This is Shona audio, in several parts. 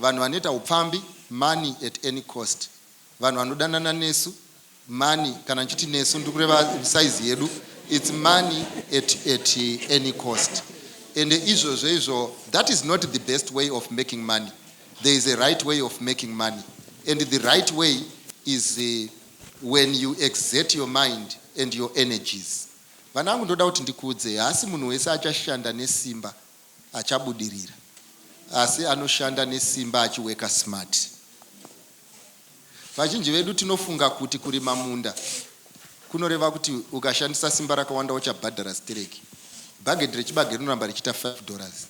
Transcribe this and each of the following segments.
Vanhu vanoita hupfambi, money at any cost. Vanhu vanodanana nesu, money, kana ndichiti nesu ndiri kureva size yedu, it's money at, at any cost. Ende izvozvo izvo, that is not the best way of making money. There is a right way of making money. And the right way is uh, when you exert your mind and your energies. Vana vangu ndoda kuti ndikuudzei, haasi munhu wese achashanda nesimba achabudirira asi anoshanda nesimba achiworker smart. Vazhinji vedu tinofunga kuti kurima munda kunoreva kuti ukashandisa simba rakawanda uchabhadhara stereki. Bhagedhi rechibage rinoramba richiita five dollars.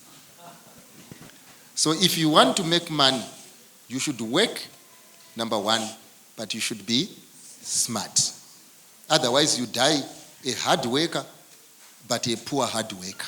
So if you want to make money you should work number one but you should be smart otherwise you die a hard worker but a poor hard worker.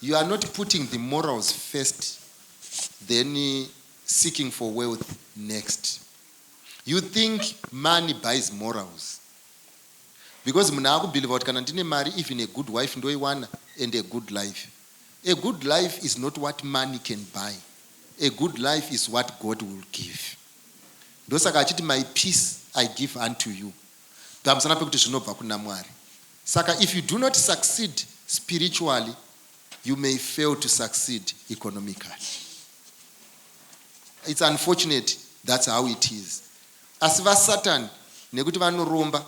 You are not putting the morals first then seeking for wealth next. You think money buys morals. Because munhu akubhilivha kuti kana ndine mari even a good wife ndoiwana and a good life. A good life is not what money can buy. A good life is what God will give. Ndosaka achiti my peace I give unto you. Pamusana pekuti zvinobva kuna Mwari. Saka if you do not succeed spiritually you may fail to succeed economically. It's unfortunate that's how it is. Asi vasatan nekuti vanoromba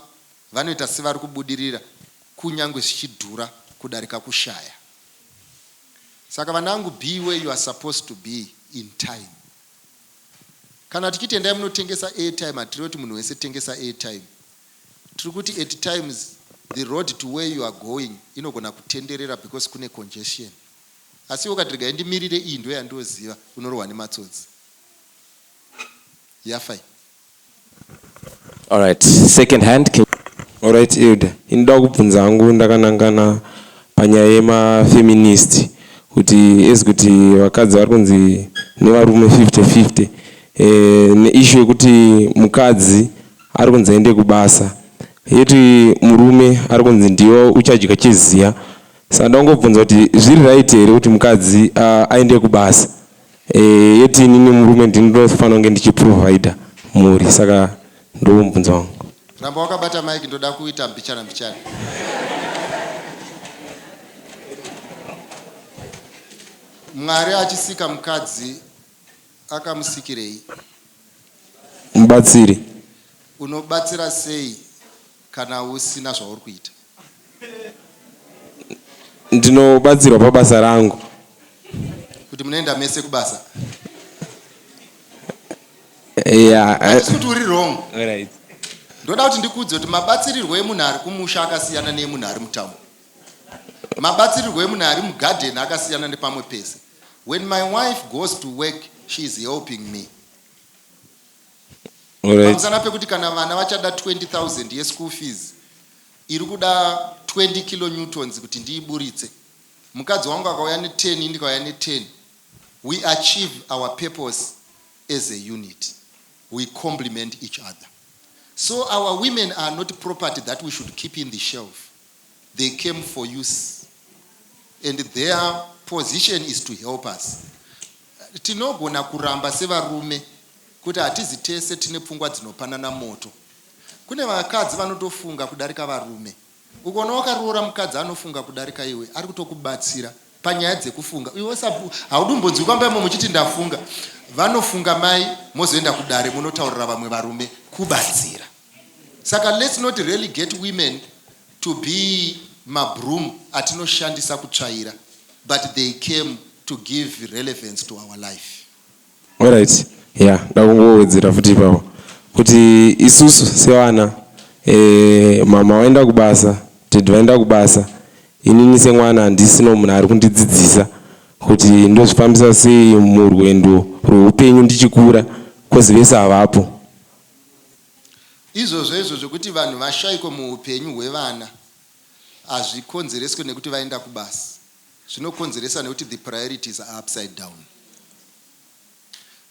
vanoita sevari kubudirira kunyange zvichidhura kudarika kushaya. Saka vanangu be where you are supposed to be in time. Kana tichiti endai munotengesa airtime hatirevi kuti munhu wese tengesa airtime. Tiri kuti at times the road to where you are going inogona kutenderera because kune congestion. Asi iwe ukati regai ndimirire iyi ndiyo yandinoziva unorohwa nematsotsi. Yafa iyi. Alright, second hand. Can... Alright Elder, inoda kubvunza hangu ndakanangana panyaya yemafeminist kuti as kuti vakadzi vari kunzi nevarume 50-50 eh, neishu yekuti mukadzi Ari kunzi aende kubasa yeti murume ari kunzi ndiwe uchadya chiziya saka ndakungobvunza kuti zviri right here kuti mukadzi uh, aende kubasa e, yeti inini murume ndinofanira kunge ndichiprovider mhuri saka ndomubvunzo wangu ramba wakabata mike ndoda kuita mbichana mbichana mwari achisika mukadzi Akamusikirei? Mubatsiri. Unobatsira sei kana usina zvauri kuita? Ndinobatsirwa pabasa rangu. Kuti munoenda mese kubasa? Yeah. Handisi kuti uri wrong. Alright. Ndoda kuti ndikuudze kuti mabatsirirwo emunhu ari kumusha akasiyana neemunhu ari mutown. Mabatsirirwo emunhu ari mugarden akasiyana nepamwe pese. When my wife goes to work, she is helping me. Alright. Pamusana pekuti kana vana vachada 20,000 yeschool fees, iri kuda 20 kilonewtons kuti ndiiburitse. Mukadzi wangu akauya ne10, ini ndikauya ne10. We achieve our purpose as a unit. We complement each other. So our women are not property that we should keep in the shelf. they came for use and their position is to help us tinogona kuramba sevarume kuti hatizi tese tine pfungwa dzinopanana moto kune vakadzi vanotofunga kudarika varume ukona wakaroora mukadzi anofunga kudarika iwe ari kutokubatsira panyaya dzekufunga iwe haudumbonzwi kwamba imo muchiti ndafunga vanofunga mai mozoenda kudare munotaurira vamwe varume kubatsira Saka let's not relegate women to be mabroom atinoshandisa kutsvaira but they came to give relevance to our life. Alright, yeah, ndakungowedzera futi ipapo kuti isusu sevana eh, mama vaenda kubasa, dad vaenda kubasa, inini semwana handisino munhu ari kundidzidzisa kuti ndozvifambisa sei murwendo rweupenyu ndichikura kozi vese havapo. Izvozvo izvo zvekuti vanhu vashaikwe muupenyu hwevana hazvikonzereswe nekuti vaenda kubasa zvinokonzeresa nekuti the priorities are upside down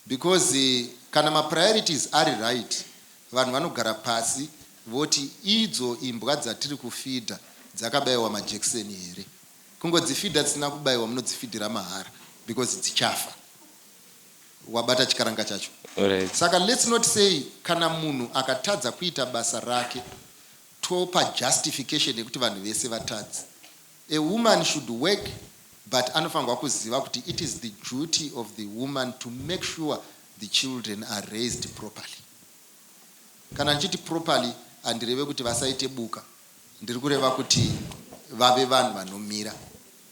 because kana mapriorities ari right vanhu vanogara pasi voti idzo imbwa dzatiri kufidha dzakabaiwa majekiseni here kungodzifidha dzisina kubaiwa munodzifidhira mahara because dzichafa wabata chikaranga chacho Alright. saka let's not say kana munhu akatadza kuita basa rake topa justification yekuti vanhu vese vatadzi a woman should work but anofanirwa kuziva kuti it is the duty of the woman to make sure the children are raised properly kana ndichiti properly handireve kuti vasaite buka ndiri kureva kuti vave vanhu vanomira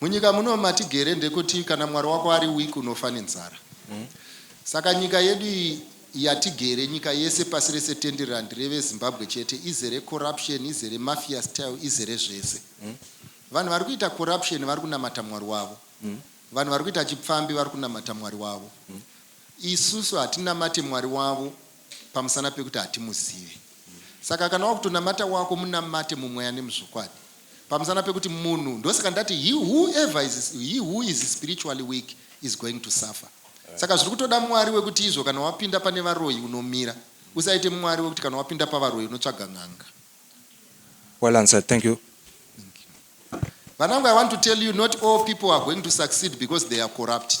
Munyika muno matigere ndekuti kana mwari wako ari weak unofa nenzara. Saka nyika yedu iyi yatigere nyika yese pasi rese tenderera ndireve Zimbabwe chete izere corruption izere mafia style izere zvese. Vanhu vari kuita corruption vari kunamata mwari wavo. Vanhu vari kuita chipfambi vari kunamata mwari wavo. Isusu hatinamate mwari wavo. pamusana pekuti hatimuzive. Saka kana wakutonamata wako munamate mumweya nemuzvokwadi pamusana pekuti munhu ndosaka ndati he whoever is, he who is spiritually weak is going to suffer saka zviri kutoda mwari wekuti izvo kana wapinda pane varoyi unomira usaite mwari wekuti kana wapinda pavaroyi unotsvaga n'anga well answered thank you vanangu i want to tell you not all people are going to succeed because they are corrupted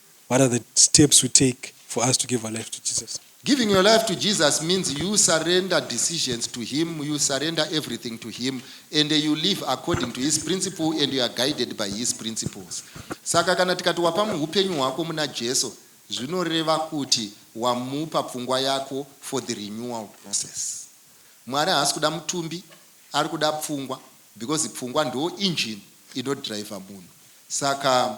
What are the steps we take for us to give our life to Jesus? Giving your life to Jesus means you surrender decisions to him, you surrender everything to him and you live according to his principle and you are guided by his principles. Saka kana tikati wapa muupenyu hwako muna Jesu zvinoreva kuti wamupa pfungwa yako for the renewal process. Mwari haasi kuda mutumbi, ari kuda pfungwa because pfungwa ndo engine inodriver munhu. Saka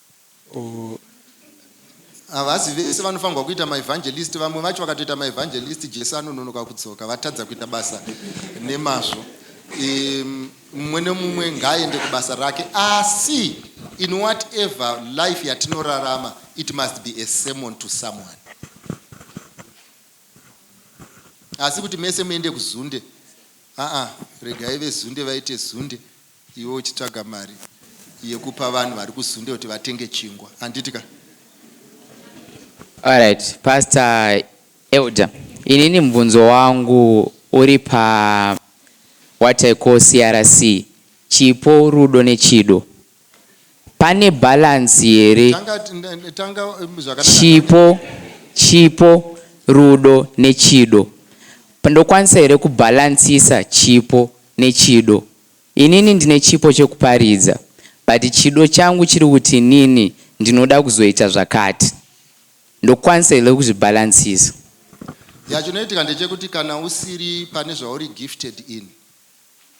Ooh havazi vese vanofanirwa kuita maevangelisti vamwe vacho vakatoita maevangelisti jesu anononoka kudzoka vatadza kuita basa nemazvo mumwe nemumwe ngaaende kubasa rake asi in whatever life yatinorarama it must be a sermon to someone asi kuti mese muende kuzunde aa regai vezunde vaite zunde Iwe uchitsvaga mari yekupa vanhu vari kuZunde kuti vatenge chingwa handiti ka. Alright pastor elder inini mubvunzo wangu uri pa what I call CRC chipo rudo nechido pane balance here Tanga tanga tanga zvakanaka. chipo chipo rudo nechido ndokwanisa here kubalancisa chipo nechido Inini ndine chipo chekuparidza but chido changu chiri kuti inini ndinoda kuzoita zvakati ndokwanisa here kuzvibhalansisa. Yaa chinoitika ndechekuti kana usiri pane zvauri gifted in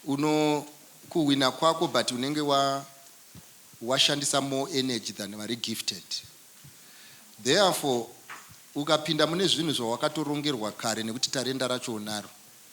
uno kuhwina kwako but unenge wa washandisa more energy than vari gifted therefore ukapinda mune zvinhu zvawakatorongerwa kare nekuti tarenda racho unaro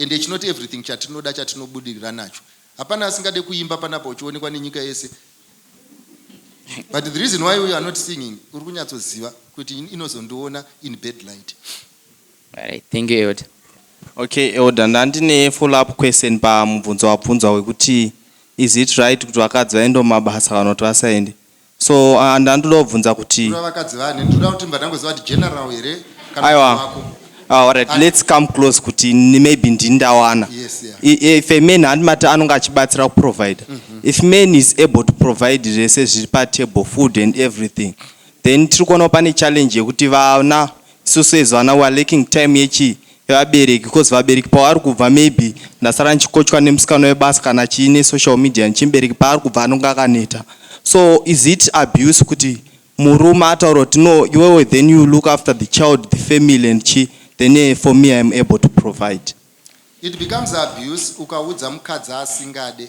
And it's not everything chatinoda chatinobudirira nacho. Hapana asingade kuimba panapa uchionekwa nenyika yese. But the reason why we are not singing, uri kunyatsoziva kuti inozondiona in bad light. Alright, thank you Elder. Okay, Elder, ndandine follow up question pamubvunzo wabvunzwa wekuti is it right kuti vakadzi vaende mumabasa kana kuti vasaende? So uh, ndandoda kubvunza kuti Kura vakadzi vane ndoda kuti mba ndangoziva kuti general here kana Aiwa. kuti wako. Ah, all right, let's come close kuti ni- maybe ndini ndawana Yes, yeah. I- if a man handimati anonge achibatsira kuprovider if man is able to provide zvese zviri patable food and everything then tiri kuonawo pane challenge yekuti vana isusu as vana weare lacking time yechi vevabereki because vabereki pavari kubva maybe ndasara ndichikochwa nemusikana webasa kana chii nesocial media nechii mubereki paari kubva anonge akaneta so is it abuse kuti murume ataura kuti no iwewe then you look after the child the family and chii then eh, for me iam able to provide it becomes abuse ukaudza mukadzi asingade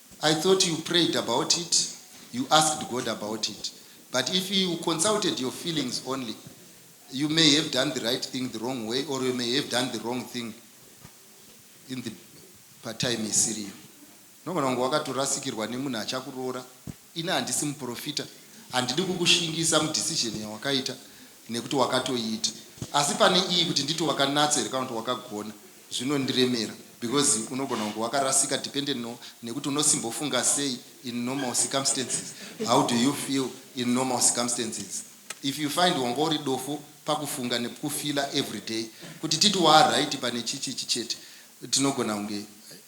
I thought you prayed about it, you asked God about it but if you consulted your feelings only you may have done the right thing the wrong way or you may have done the wrong thing in the patime isiriyo. Unogona kunge wakatorasikirwa nemunhu achakuroora. Ini handisi muprofita, handidi kukushingisa mudecision yawakaita nekuti wakatoiita. Asi pane iyi kuti nditi wakanatsa here kana kuti wakagona, Zvinondiremera because unogona kunge wakarasika dependent no nekuti unosimbofunga sei in normal circumstances how do you feel in normal circumstances if you find wanga uri dofo pakufunga nekufeela everyday kuti titi waaright pane chichichi chete tinogona kunge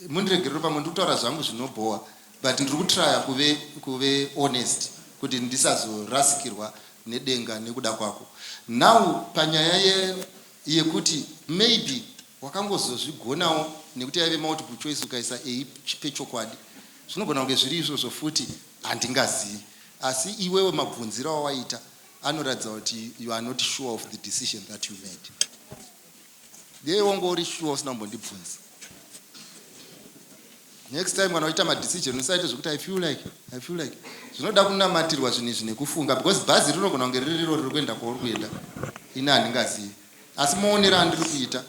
mundiregerero pamwe ndikutaura zvangu zvinobhowa but ndiri kutraya kuve kuve honest kuti ndisazorasikirwa nedenga nekuda kwako now panyaya ye Yekuti maybe wakangozozvigonawo nekuti yaive multiple choice ukaisa a pechokwadi. Zvinogona kunge zviri izvozvo futi handingazivi. Asi iwewe mabvunziro awaita anoratidza kuti you are not sure of the decision that you made. Dei wanga uri sure usina kumbondibvunza. next time kana uchiita madecision usaite zvekuti i feel like i feel like zvinoda kunamatirwa zvinhu izvi nekufunga because bhazi rinogona kunge riri riro riri kuenda kwauri kuenda ini handingazivi asi muonera andiri kuita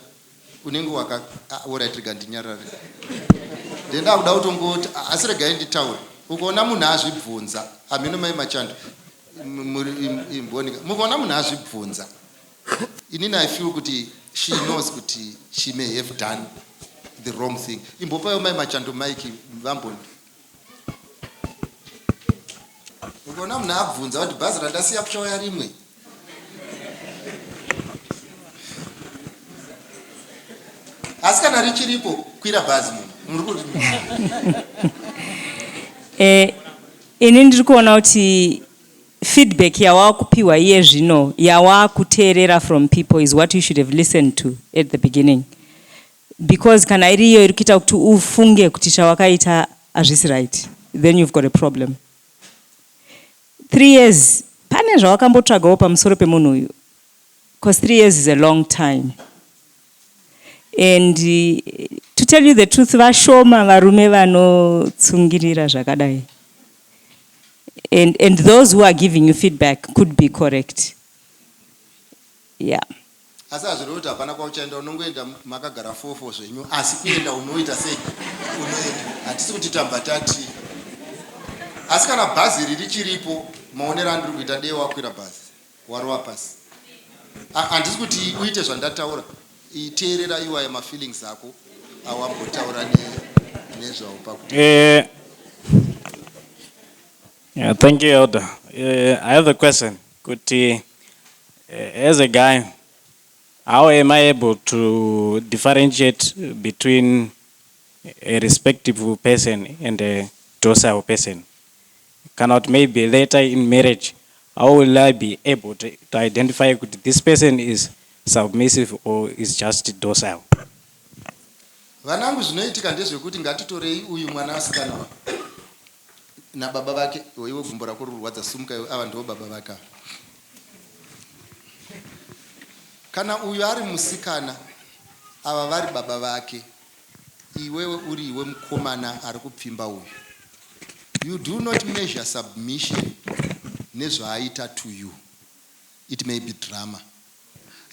unenge waka ah, orit rega ndinyarare then ndakuda kutongoti ah, asi regai nditaure ukaona munhu azvibvunza hameno mai machando mukaona munhu azvibvunza Inini I feel kuti she knows kuti she may have done the wrong thing. Imbopayo mai machando mike vamboni. Ukaona munhu abvunza kuti bhazi randasiya kuchauya rimwe. Asi kana richiripo kwira bhazi munhu. Muri kuti Eh ini ndiri kuona kuti Feedback yawakupiwa iye zvino yawakuteerera from people is what you should have listened to at the beginning because kana iri iyo iri kuita kuti ufunge kuti chawakaita hazvisi right then you've got a problem. Three years pane zvawakambotsvagawo pamusoro pemunhu uyu? Because three years is a long time. and to tell you the truth vashoma varume vanotsungirira zvakadai and, and those who are giving you feedback could be correct yeah asi hazvirevi kuti hapana kwauchaenda unongoenda makagara fofo zvenyu asi kuenda unoita sei unoenda hatisi kuti tamba tati asi kana bhazi riri chiripo maonero andiri kuita dei wakwira bhazi Warova pasi. Ah, handisi kuti uite zvandataura. Iteerera iwaya mafeelings ako awambotaura ne- nezvawo pakuti Eh, yeah, thank you, Elder. Uh, I have a question. Kuti, uh, as a guy, how am I able to differentiate between a respectable person and a docile person? kana kuti maybe later in marriage how will I be able to, to identify kuti this person is submissive or is just docile. Vanangu zvinoitika ndezvekuti ngatitorei uyu mwana asikana uyu nababa vake iwe gumbo rako rurwadza sumuka iwe ava ndivo baba vake ava kana uyu ari musikana ava vari baba vake Iwewe uri iwe mukomana ari kupfimba uyu you do not measure submission nezvaaita to you it may be drama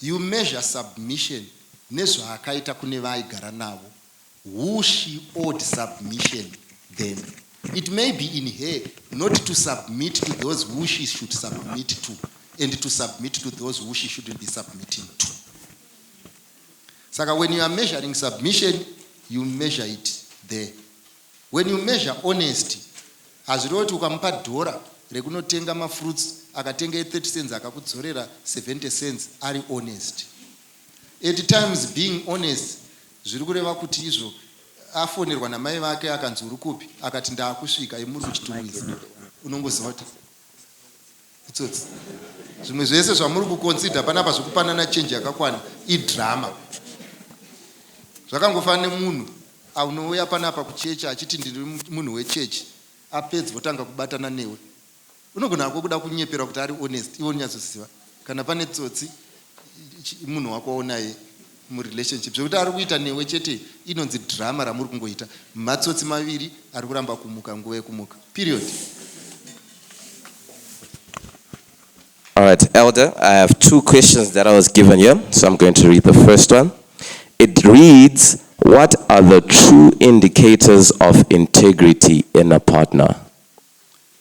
you measure submission nezvaakaita kune vaaigara navo who she owed submission then it may be in her not to submit to those who she should submit to and to submit to those who she shouldn't be submitting to Saka when you are measuring submission you measure it there. When you measure honesty hazvireva kuti ukamupa dhora rekunotenga mafruits akatenga e30 cents akakudzorera 70 cents ari honest. At times being honest zviri kureva kuti izvo afonerwa namai vake akanzi uri kupi akati ndaakusvika imuri kuchitumisa unongoziva kuti Itsotsi. Zvimwe zvese zvamuri kuconsider panapa zvekupanana change yakakwana idrama. Zvakangofanana nemunhu anouya panapa kuchechi achiti ndiri munhu wechechi apedza otanga kubatana newe. Unogona hako kuda kunyeperwa kuti ari honest iwe unonyatsoziva kana pane tsotsi munhu wako waunaye murelationship zvekuti ari kuita newe chete inonzi drama ramuri kungoita matsotsi maviri ari kuramba kumuka nguva yekumuka period All right, Elder, I have two questions that I was given here, so I'm going to read the first one. It reads, what are the true indicators of integrity in a partner?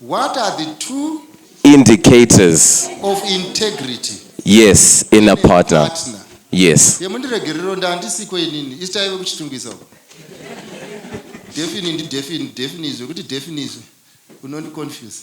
What are the two indicators of integrity? Yes, in a partner. partner. Yes. Yemundiregerero ndandisiko inini. Isitaive kuchitungisa. Defini ndi defini, defini izvo kuti defini izvo. Unondi confuse.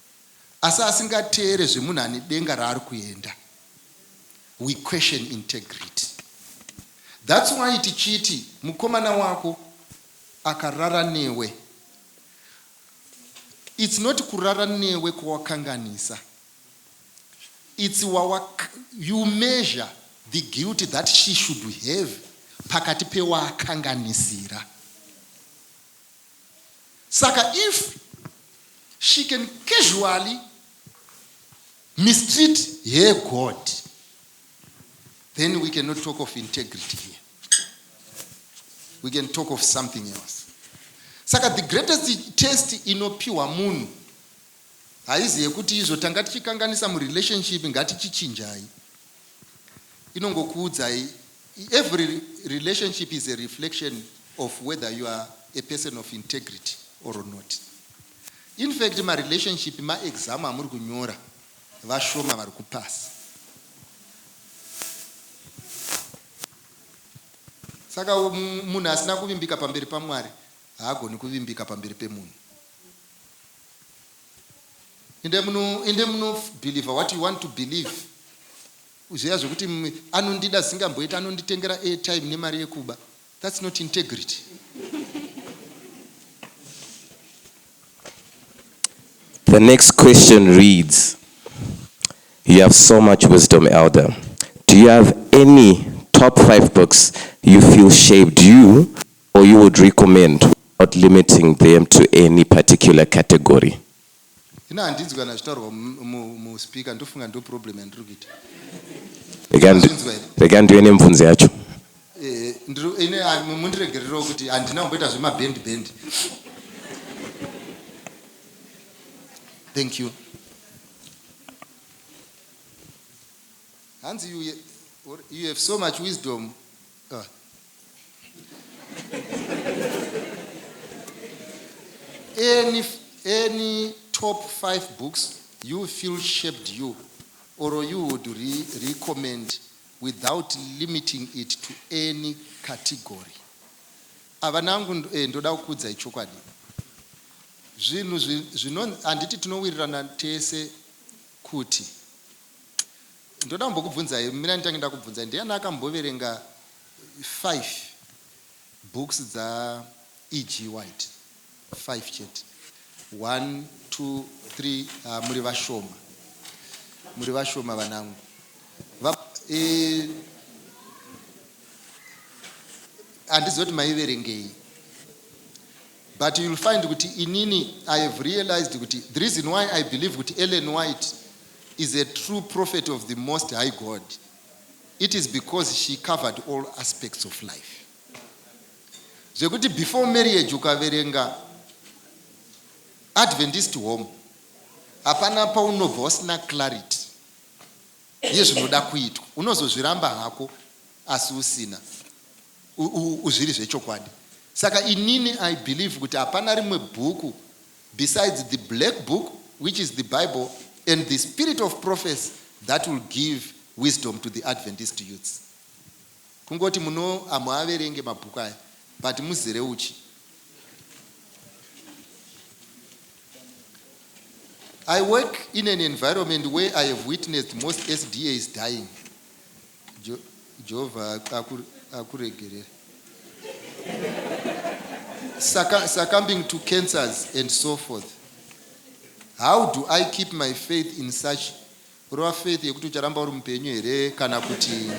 asi asingateere zvemunhu ane denga raari kuenda we question integrity thats why tichiti mukomana wako akarara newe its not kurara newe kwawakanganisa its wawak you measure the guilty that she should have pakati pewakanganisira Saka if she can casually mistreat her God, then we cannot talk of integrity here. We can talk of something else. Saka the greatest test inopiwa munhu haizi yekuti izvo tanga tichikanganisa murelationship ngatichichinjai. inongokuudzai every relationship is a reflection of whether you are a person of integrity or not infact marelationship maexam amuri kunyora vashoma vari kupasa saka munhu asina kuvimbika pamberi pamwari haagoni kuvimbika pamberi pemunhu Ende muno ende muno believer what you want to believe. Zviya zvekuti anondida zvisingamboiti anonditengera airtime nemari yekuba. That's not integrity. The next question reads, You have so much wisdom, Elder. Do you have any top five books you feel shaped you or you would recommend without limiting them to any particular category? ina handinzwi kana zvitaurwa muspeaker ndofunga ndo problem yandiri kuita rega ndiwe nemvunzi yacho eh, ine ah, mundiregererewo kuti handina kumboita zvemabhendi bhendi thank you hanzi you, you have so much wisdom Ah. any, any top five books you feel shaped you or you would re recommend without limiting it to any category avanangu eh, ndoda kukuudzai chokwadi zvinhu zvino handiti tinowirirana tese kuti Ndoda kumbokubvunzai, mirai nditange ndakubvunzai, ndiani akamboverenga five books dza E.G. White? Five chete. One, two, three, ah, muri vashoma. Muri vashoma vanangu. Va, e, handizivi kuti maiverengei. But you will find kuti inini I have realized kuti the reason why I believe kuti Ellen White is a true prophet of the most high God it is because she covered all aspects of life zvekuti before marriage ukaverenga adventist home hapana paunobva usina clarity yezvinoda kuitwa unozozviramba hako asi usina zviri zvechokwadi. Saka inini I believe kuti hapana rimwe bhuku besides the black book which is the bible and the spirit of prophecy that will give wisdom to the Adventist youths. Kungoti muno hamuaverenge mabhuku aya but muzere uchi. I work in an environment where I have witnessed most SDAs dying. Jo, Jehovha aku, akuregerere. Succu- succumbing to cancers and so forth. How do I keep my faith in such kurova faith yekuti ucharamba uri mupenyu here kana kuti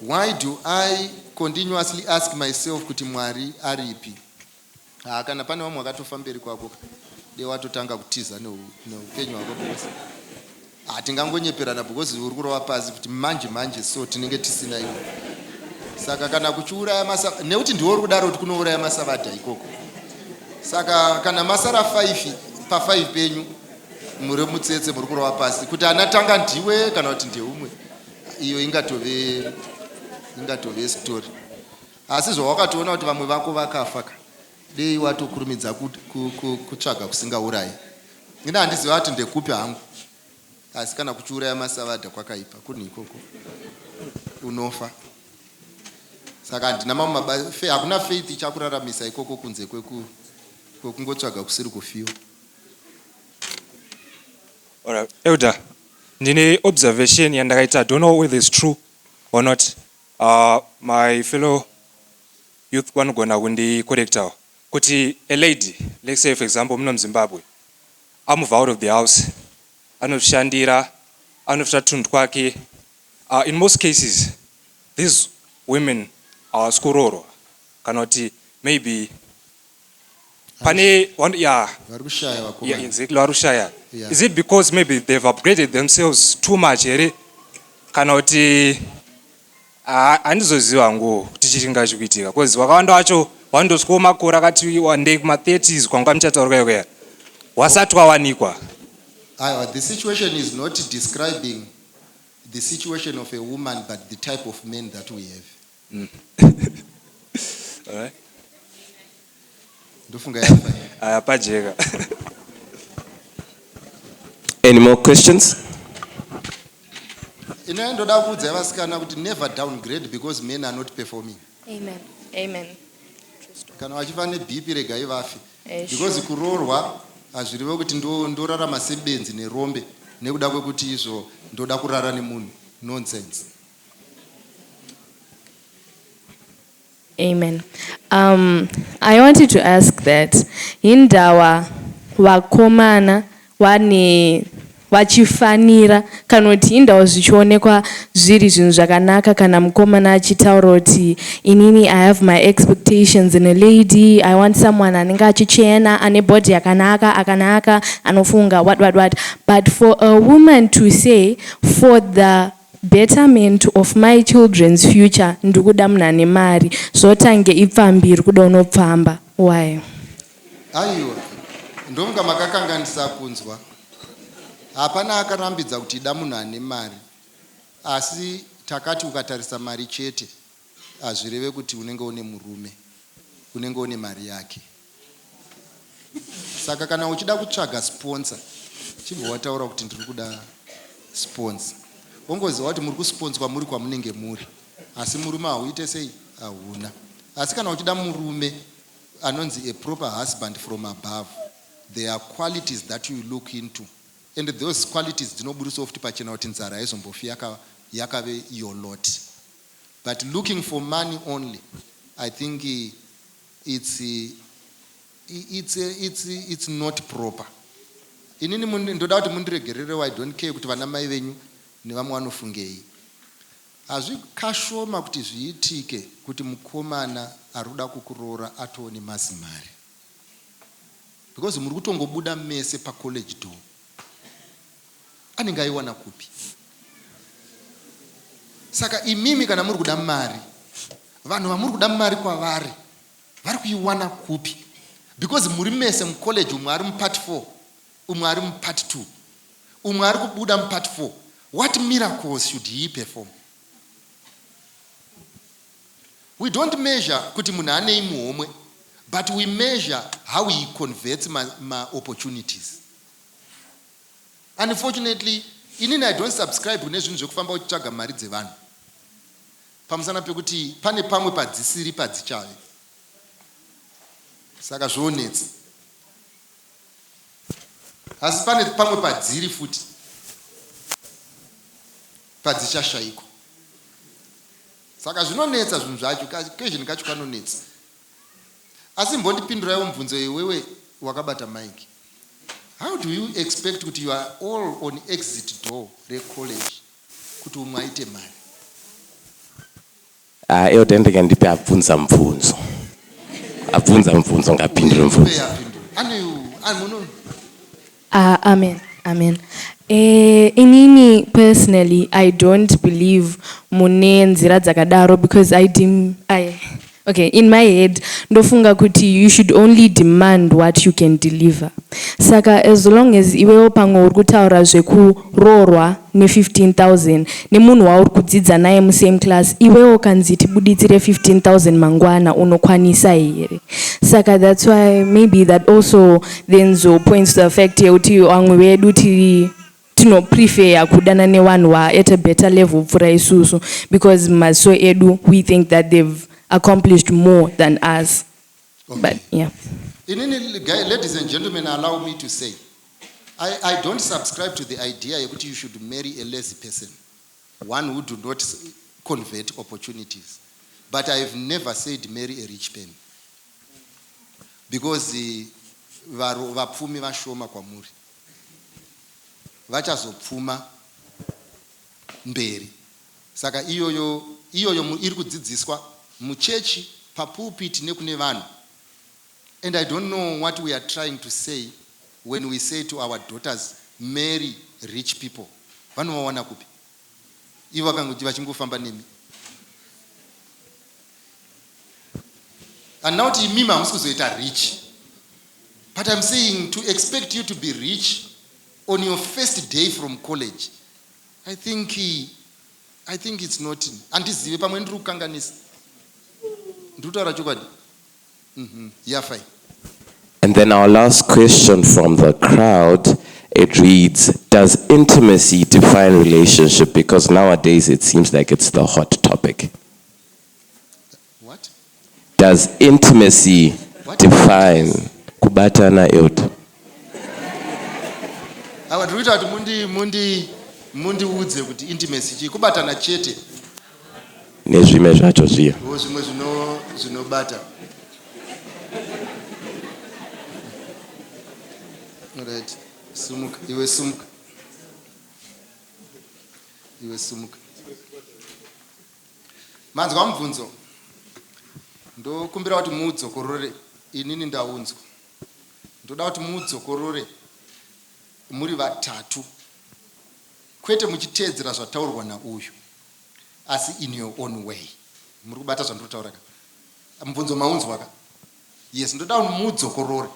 why do I continuously ask myself kuti Mwari aripi? Haa kana pane vamwe vakatofa mberi kwako dei watotanga kutiza neupenyu hwako because haa tingangonyeperana because uri kurova pasi kuti manje manje so tinenge tisina iwe saka kana kuchiuraya masa nekuti ndiwo uri kudaro kuti kunouraya masavadha ikoko saka kana masara 5 pa 5 penyu muri mutsetse muri kurova pasi kuti anatanga ndiwe kana kuti ndeumwe iyo ingatove ingatove story Asi zvawakatoona kuti vamwe vako vakafa ka dei watokurumidza kutsvaga kusingaurayi ini handiziva ati ndekupi hangu asi kana kuchiuraya masavadha kwakaipa kunhu ikoko unofa saka handina mamwe mabasa hakuna faith ichakuraramisa ikoko kunze kwekungotsvaga kusiri kufiwa elder ndine observation yandakaita don't know whether is true or not Ahh my fellow youth vanogona kundi correctawo kuti a lady let's say for example muno muZimbabwe a mover out of the house anozvishandira anotora tunhu twake ahh in most cases these women hawasi kuroorwa kana kuti maybe pane one yeah vari kushaya yeah vakomana exactly vari kushaya Yeah. is it because maybe they've upgraded themselves too much here kana kuti ha- handizoziva hangu kuti chii chinga chikuitika because vakawanda vacho vanotosvikawo makore akati wandei kuma 30s kwanga muchataurwa yekuya wasati wawanikwa Aiwa, the situation is not describing the situation of a woman but the type of men that we have Ndofunga yafa iyi. Aya pajeka. Any more questions? Ini ndoda kuudza vasikana kuti never downgrade because men are not performing. Amen. Amen. Kana vachiva neBP regai vafe. Eh, Because sure. kuroorwa hazvireve kuti ndo- ndorarama sebenzi nerombe nekuda kwekuti izvo ndoda kurara nemunhu. Nonsense. Amen. Um, I wanted to ask that hindawa vakomana wane vachifanira kana kuti hindawa zvichionekwa zviri zvinhu zvakanaka kana mukomana achitaura kuti inini i have my expectations in a lady i want someone anenge achichena ane body yakanaka akanaka anofunga what what what but for a woman to say for the Betterment of my children's future ndikuda munhu ane mari zvotange ipfambi irikuda unopfamba why. Aiwa ndomga makakanganisa kunzwa hapana akarambidza kuti ida munhu ane mari asi takati ukatarisa mari chete hazvireve kuti unenge une murume unenge une mari yake. saka kana uchida kutsvaga sponsor chibva wataura kuti ndiri kuda sponsor wongoziva kuti muri kusponswa muri kwamunenge muri asi murume hauite sei hauna asi kana uchida murume anonzi a proper husband from above there are qualities that you look into and those qualities dzinoburitsawo futi pachena kuti nzara haizombofi yakave your lot but looking for money only i think It's it's it's it's not proper inini mundi, ndoda kuti mundiregererewo I don't care kuti vana mai venyu nevamwe vanofungei hazvi kashoma kuti zviitike kuti mukomana arikuda kukuroora atoo nemazimari because muri kutongobuda mese pacollege door anenge aiwana kupi saka imimi kana muri kuda mari vanhu vamuri kuda mari kwavari vari kuiwana kupi because muri mese mucollege umwe ari mupart 4 umwe ari mupart 2 umwe ari kubuda mupart 4 what miracles should he perform we don't measure kuti munhu anei muhomwe but we measure how he converts maopportunities ma Unfortunately inini I don't subscribe kune zvinhu zvekufamba uchitsvaga mari dzevanhu pamusana pekuti pane pamwe padzisiri padzichave saka zvoonetsa asi pane pamwe padziri futi padzichashaikwa saka zvinonetsa zvinhu zvacho kazhinji kacho kanonetsa Asi mbondipinduraiwo mubvunzo uyu iwewe wakabata mic. How do you expect kuti you are all on exit door recollege kuti umwe aite mari? Ah, elder ndege ndipe abvunza mubvunzo. Abvunza mubvunzo ngapindure mubvunzo. Uye apindure, apindure. Ane, ane, muno. Ahh amen amen eeh inini personally i dont believe mune nzira dzakadaro because i dem i ok in my head ndofunga kuti you should only demand what you can deliver saka as long as iwewo pamwe uri kutaura zveku roorwa ne 15000 nemunhu wauri kudzidza naye mu same class iwewe ukanzi tibuditsire 15000 mangwana unokwanisa here saka that's why maybe that also then zo points to the fact yekuti vamwe vedu tiri tinopreferer kudana nevanhu va at a better level kupfuura isusu because maziso edu we think that they've accomplished more than us okay. but yeah inini ladies and gentlemen allow me to say I, I don't subscribe to the idea yekuti you should marry a lazy person one who do not convert opportunities but i have never said marry a rich pen because eh, vapfumi vashoma kwamuri vachazopfuma mberi saka iyoyo iyoyo iri kudzidziswa muchechi papulpit nekune vanhu And I don't know what we are trying to say when we say to our daughters marry rich people vanovawana kupi ivo vakangoti vachingofamba nemi and now kuti imimi hamusi kuzoita rich but im saying to expect you to be rich on your first day from college i think i think its not handizive pamwe ndiri kukanganisa ndiri kutaura chokwadi Yafa iyi. And then our last question from the crowd, it reads, does intimacy define relationship? Because nowadays it seems like it's the hot topic. What? Does intimacy what? define kubatana yoto? Awa tikuita kuti mundi mundi mundiudze kuti intimacy chii kubatana chete. nezvime zvacho zviya. Wo zvimwe zvino zvinobata. Right. Sumuka iwe sumuka. Iwe sumuka. Manzwa mubvunzo. Ndokumbira kuti muudzokorore inini ndaunzwa. Ndoda kuti muudzokorore muri vatatu kwete muchiteedzera zvataurwa nauyu. asi in your own way muri kubata zvandiri kutaura ka mubvunzo maunzwa ka yes ndoda kuti mudzokorore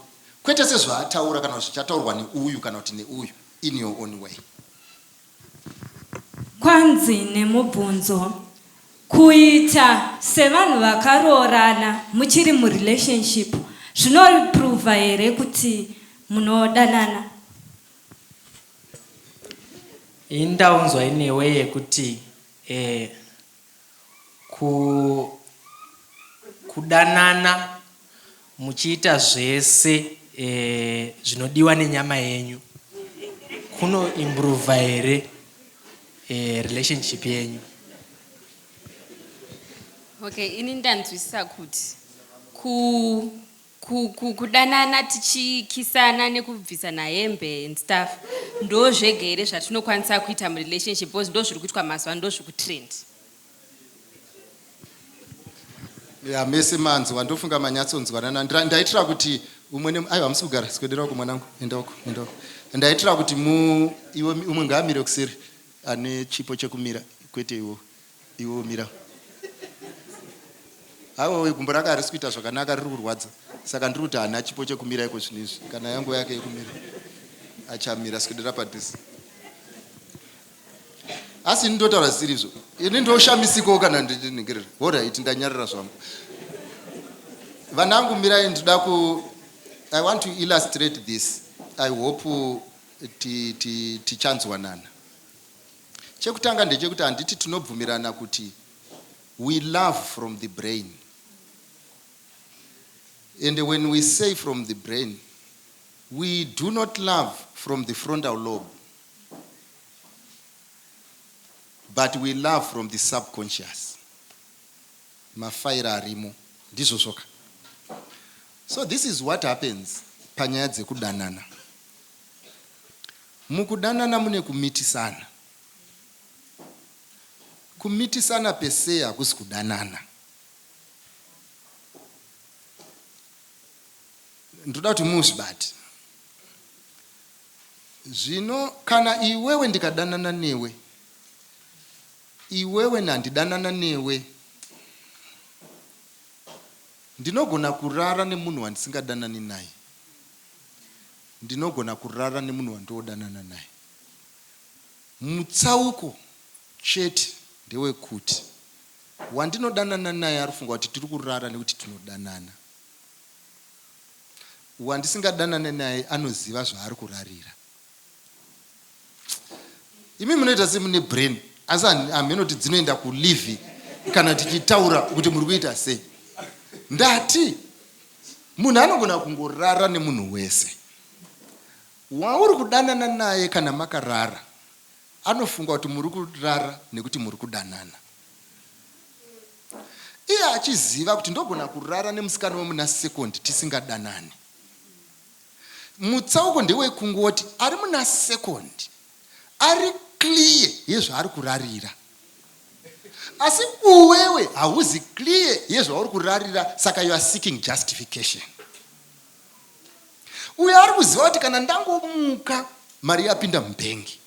kwete sezvaataura kana zvichataurwa neuyu kana kuti neuyu in your own way kwanzi nemubvunzo kuita sevanhu vakaroorana muchiri murelationship zvinoprova here kuti munodanana Ini ndaunzwai newe yekuti eh, ku, kudanana muchiita zvese eh, zvinodiwa nenyama yenyu kuno improva here eh, relationship yenyu Okay, ini ndanzwisisa kuti ku Ku, ku, kudanana tichikisana nekubvisana hembe and stuff ndo zvega here zvatinokwanisa kuita murelationship because ndo zviri kuitwa mazuva ndo zviri kutrend ya mese manzwa ndofunga manyatsonzwanana ndaitira kuti umwe ne aiwa hamusi kugara sikwedera uko mwanangu enda uko enda uko ndaitira kuti mu iwe umwe ngaamire kuseri ane chipo chekumira kwete iwo Iwe mira haiwawe gumbo rake harisi kuita zvakanaka riri kurwadza saka ndiri kuti hana chipo chekumira iko zvinhu izvi kana yanguva yake yekumira achamira sikudira padhuze asi ini ndotaura zvisiri izvo ini ndoshamisikawo kana ndiningirira horit ndanyarira zvangu vanangu mirai ndida ku i want to illustrate this i hope tichanzwanana ti, ti, ti Chekutanga ndechekuti handiti tinobvumirana kuti we love from the brain and when we say from the brain we do not love from the frontal lobe but we love from the subconscious mafaira arimo ndizvo zvoka so this is what happens panyaya dzekudanana Mukudanana mune kumitisana. Kumitisana per se hakusi kudanana. Ndoda kuti muzvibate. Zvino kana iwewe ndikadanana newe, iwewe nandidanana newe, ndinogona kurara nemunhu wandisingadanani naye. Ndinogona kurara nemunhu wandinodanana naye. Mutsauko chete ndewekuti wandinodanana naye ari kufunga kuti tiri kurara nekuti tinodanana. Wandisingadanane naye anoziva zvaari kurarira. imi munoita semune brain asi hameno kuti dzinoenda kulivi kana tichitaura kuti muri kuita sei ndati munhu anogona kungorara nemunhu wese wauri kudanana naye kana makarara anofunga kuti muri kurara nekuti muri kudanana iye achiziva kuti ndogona kurara nemusikana wemuna second tisingadanani Mutsauko ndewekungoti ari muna second ari clear yezvaari kurarira asi uwewe hauzi clear yezvauri kurarira saka you are seeking justification. Uyo ari kuziva kuti kana ndangomuka mari yapinda mubhengi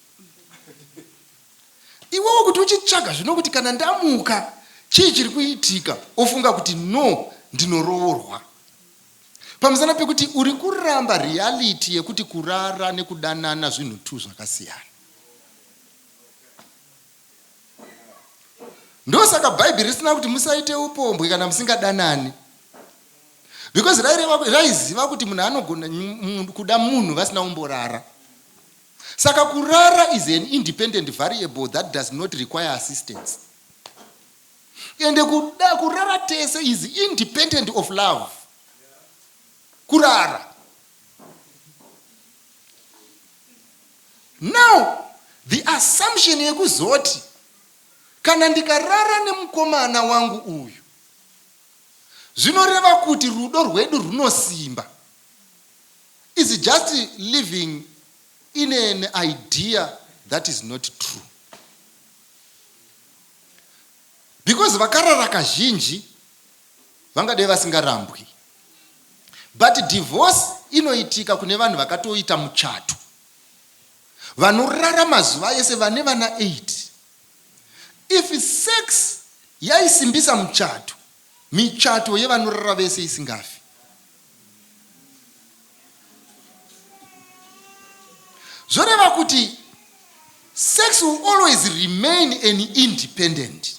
iwewo kuti uchitsvaga zvino kuti kana ndamuka chii chiri kuitika ofunga kuti no ndinoroorwa Pamusana pekuti uri kuramba reality yekuti kurara nekudanana zvinhu two zvakasiyana. Ndosaka bhaibheri risina kuti musaite upombwe kana musingadanani. Because raireva raiziva kuti munhu anogona kuda munhu vasina umborara. Saka kurara is an independent variable that does not require assistance. Ende kuda kurara tese is independent of love. Kurara. Now the assumption yekuzoti kana ndikarara nemukomana wangu uyu zvinoreva kuti rudo rwedu runosimba is just living in an idea that is not true. because vakarara kazhinji vangadai vasingarambwi but divorce inoitika kune vanhu vakatoita muchato vanorara mazuva ese vane vana 8 if sex yaisimbisa muchato michato yevanorara vese isingafi zvoreva kuti sex will always remain an independent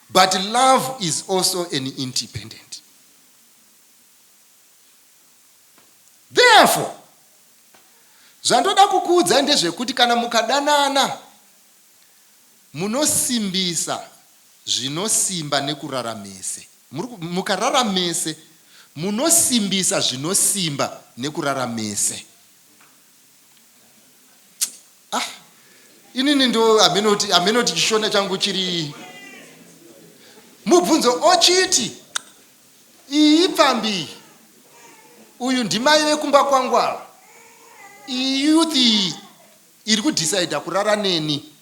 but love is also an independent therefore zvandoda kukuudza ndezvekuti kana mukadanana Munosimbisa zvinosimba nekurara mese. Mukarara mese, munosimbisa zvinosimba nekurara mese. Ah, inini ndo hameno kuti hameno kuti chishona changu chiri mubvunzo ochiti iyi pfambi uyu ndimai vekumba kwangu ava iyi youth iyi Iri ku decider kurara neni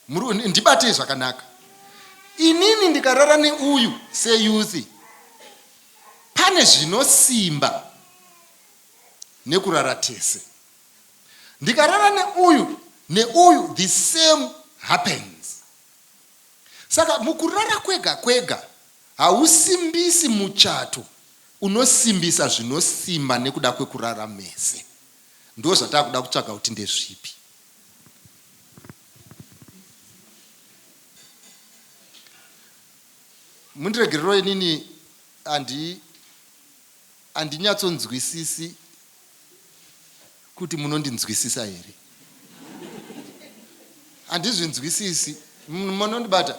muru ndibatei zvakanaka inini ndikarara neuyu se youth pane zvinosimba nekurara tese ndikarara neuyu neuyu the same happens saka mukurara kwega kwega hausimbisi muchato unosimbisa zvinosimba nekuda kwekurara mese. ndozvatakuda kutsvaga kuti ndezvipi. Mundiregerero inini andi andinyatsonzwisisi kuti munondinzwisisa here handizvinzwisisi munondibata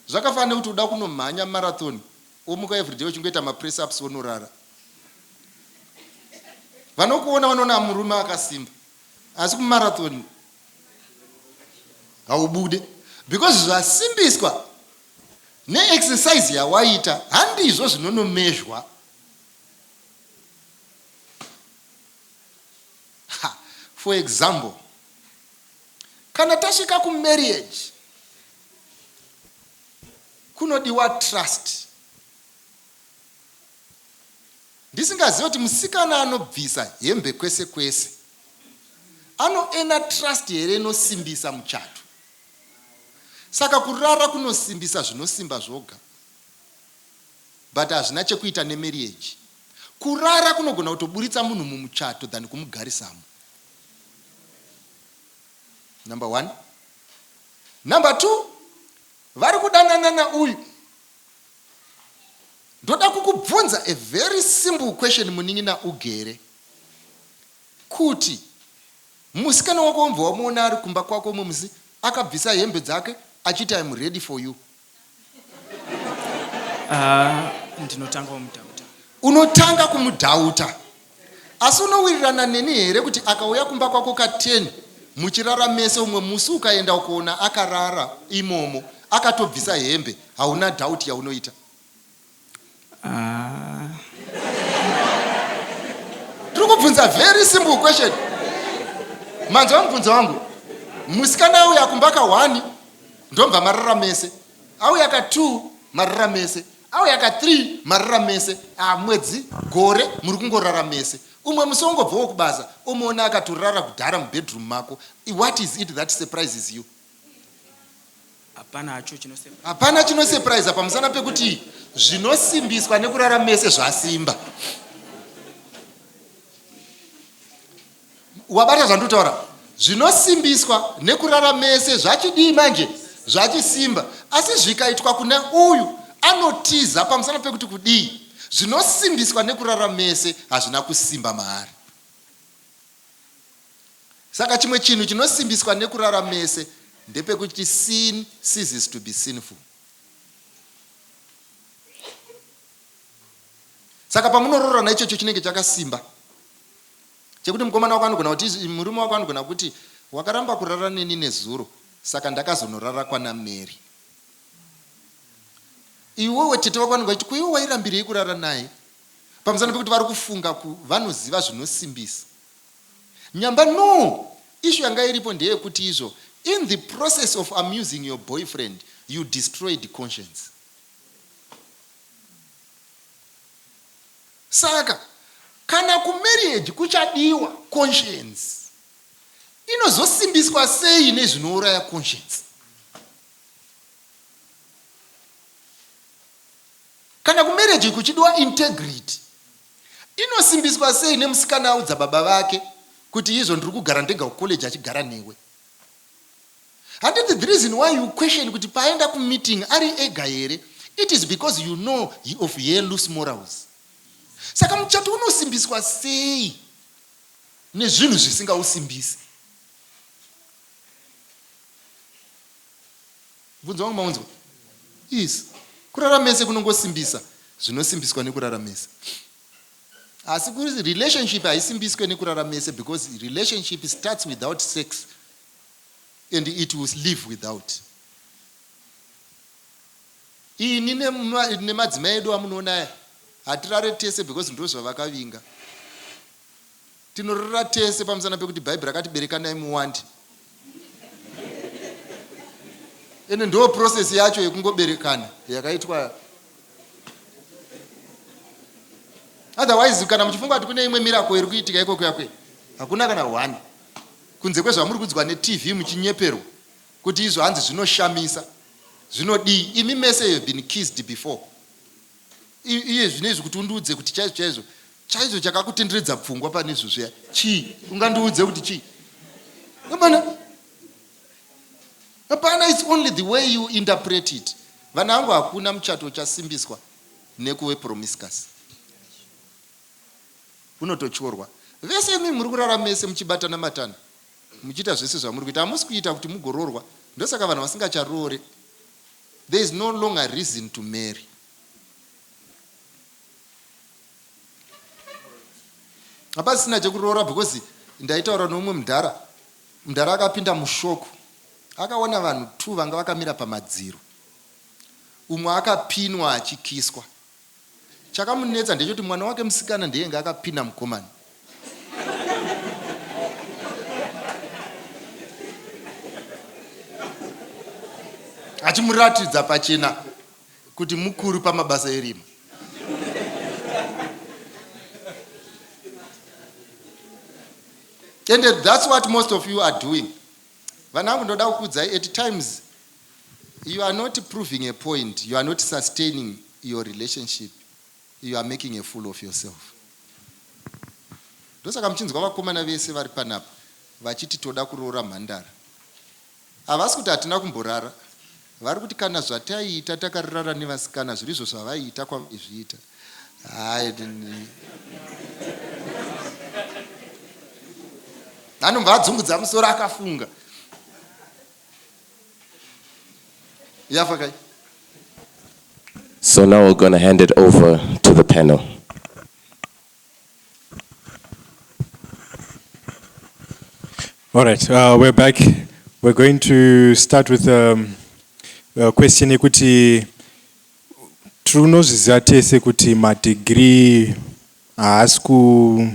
zvakafanira kuti uda kunomhanya marathon Womuka everyday uchingoita mapress ups wonorara. Vanokuona vanoona murume akasimba asi kumarathon haubude because zvasimbiswa neexercise yawaita handizvo zvinonomezhwa. For example, kana tasvika kumarriage, Kunodiwa trust. Ndisingazive kuti musikana anobvisa hembe kwese kwese anoena trust here inosimbisa muchato. Saka kurara kunosimbisa zvinosimba zvoga but hazvina chekuita nemarriage. Kurara kunogona kutoburitsa munhu mumuchato than kumugarisamo. number one number two vari kudananana uyu ndoda kukubvunza a very simple question munin'ina ugere kuti musikana wako wambva wamuona ari kumba kwako mumzi akabvisa hembe dzake achiti im ready for you Ah, ndinotanga kumudhauta. Unotanga kumudhauta. Asi unowirirana neni here kuti akauya kumba kwako ka 10 muchirara mese umwe musi ukaenda ukoona akarara imomo akatobvisa hembe hauna doubt yaunoita. Aah. Tiri kubvunza very simple question. Manzwa mubvunzo wangu. Musikana auya kumba ka one ndobva marara mese. Auya ka two marara mese. Auya ka three marara mese. Ah, mwedzi, gore muri kungorara mese. Umwe musi wongobvawo kubasa omuona akatorara kudhara mubedroom mako. What is it that surprises you? Hapana chinosurpriser pamusana pekuti zvinosimbiswa nekurara mese zvasimba. Wabata zvandotaura? Zvinosimbiswa nekurara mese zvachidii manje? Zvachisimba. Asi zvikaitwa kune uyu anotiza pamusana pekuti kudii? Zvinosimbiswa nekurara mese hazvina kusimba maari. Saka chimwe chinhu chinosimbiswa nekurara mese ndepekuti sin ceases to be sinful. Saka pamunoroorana ichocho chinenge chakasimba chekuti mukomana wako anogona kuti murume wako anogona kuti wakaramba kurara neni nezuro saka ndakazonorara kwana Mary. Iwewe tete wako anogona kuti kuiwe wairambirei kurara naye Pamusana pekuti vari kufunga ku vanoziva zvinosimbisa nyamba no issue yanga iripo ndeyekuti izvo in the process of amusing your boyfriend you destroyed conscience saka kana kumarriage kuchadiwa conscience inozosimbiswa sei nezvinouraya conscience Kana kumarriage kuchidiwa integrity inosimbiswa sei nemusikana audza baba vake kuti izvo ndiri kugara ndega kucollege achigara newe. Handiti the reason why you question kuti paaenda kumeeting ari ega here it is because you know he of her loose morals. Saka muchato unosimbiswa sei nezvinhu zvisingausimbisi. Mubvunzo wangu maunzwa? Yes. Kurara mese kunongosimbisa zvinosimbiswa nekurara mese. Asi kuri relationship haisimbiswe nekurara mese because relationship starts without sex and it will live without. Ini nemadzimai edu amunoona aya hatirare tese because ndozvavakavinga. Tinorora tese pamusana pekuti Bhaibheri rakati berekanai muwande. Ende ndoo process yacho yekungoberekana yakaitwa. Otherwise kana muchifunga kuti kune imwe miracle iri kuitika ikoko yakwe hakuna kana one kunze kwezvamuri kudzwa neTV muchinyeperwa kuti izvo hanzi zvinoshamisa zvinodii imi mese you have been kissed before. iye zvino izvi kuti undiudze kuti chaizvo chaizvo chaizvo chakakutenderedza pfungwa pane izvo zviya chii ungandiudze kuti chii hapana hapana its only the way you interpret it vana vangu hakuna muchato uchasimbiswa nekuve promiscus unototyorwa vese imi muri kurara mese muchibatana matana muchiita zvese zvamuri kuita hamusi kuita kuti mugoroorwa ndosaka vanhu vasingacharoore There is no longer reason to marry. Hapasina chekuroora because ndaitaura neumwe mudhara. Mudhara akapinda mushoko. Akaona vanhu two vanga vakamira pamadziro. Umwe akapinwa achikiswa. Chakamunetsa ndechekuti mwana wake musikana ndiye ainge akapinda mukomana. Achimuratidza pachena kuti mukuru pamabasa erima. And that's what most of you are doing. Vana vangu ndoda kukudzai at times You are not proving a point, you are not sustaining your relationship, you are making a fool of yourself. Ndosaka muchinzwa vakomana vese vari panapa vachiti toda kuroora mhandara. Havasi kuti hatina kumborara, vari kuti kana zvataiita takarara nevasikana zviri izvo zvavaiita kwaizviita. Anobva adzungudza musoro akafunga. yafa kai so now we're gonna hand it over to the panel all right uh, we're back we're going to start with um, uh, question yekuti tinozviziva tese kuti madegree haasi ku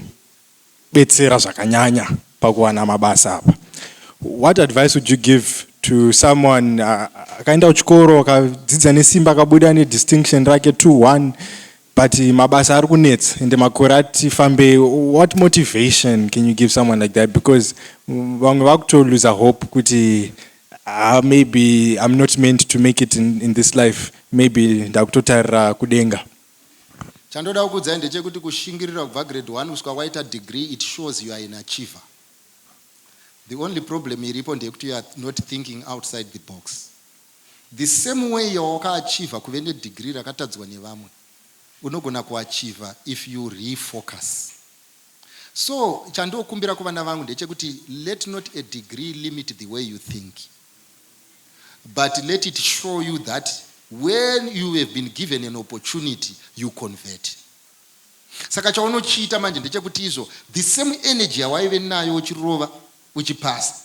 betsera zvakanyanya pakuwana mabasa apa what advice would you give to someone akaenda kuchikoro akadzidza nesimba akabuda nedistinction rake 21 but mabasa ari kunetsa ende makore ati fambei what motivation can you give someone like that because vamwe vakutoluza hope kuti uh, maybe i'm not meant to make it in, in this life maybe ndakutotarira kudenga Chandoda kukuudzai ndechekuti kushingirira kubva grade one kusvika waita degree it shows you are an achiever. The only problem iripo ndeyekuti you are not thinking outside the box. The same way yawakaachiever kuve nedegree rakatadzwa nevamwe, unogona kuachiever if you refocus. So chandokumbira kuvana vangu ndechekuti let not a degree limit the way you think. but let it show you that when you have been given an opportunity you convert saka chaunochiita manje ndechekuti izvo the same energy yawaive nayo uchirova uchipasa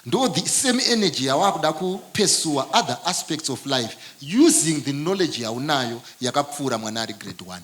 ndo the same energy yawakuda kupesua other aspects of life using the knowledge yaunayo yakapfuura mwana ari grade one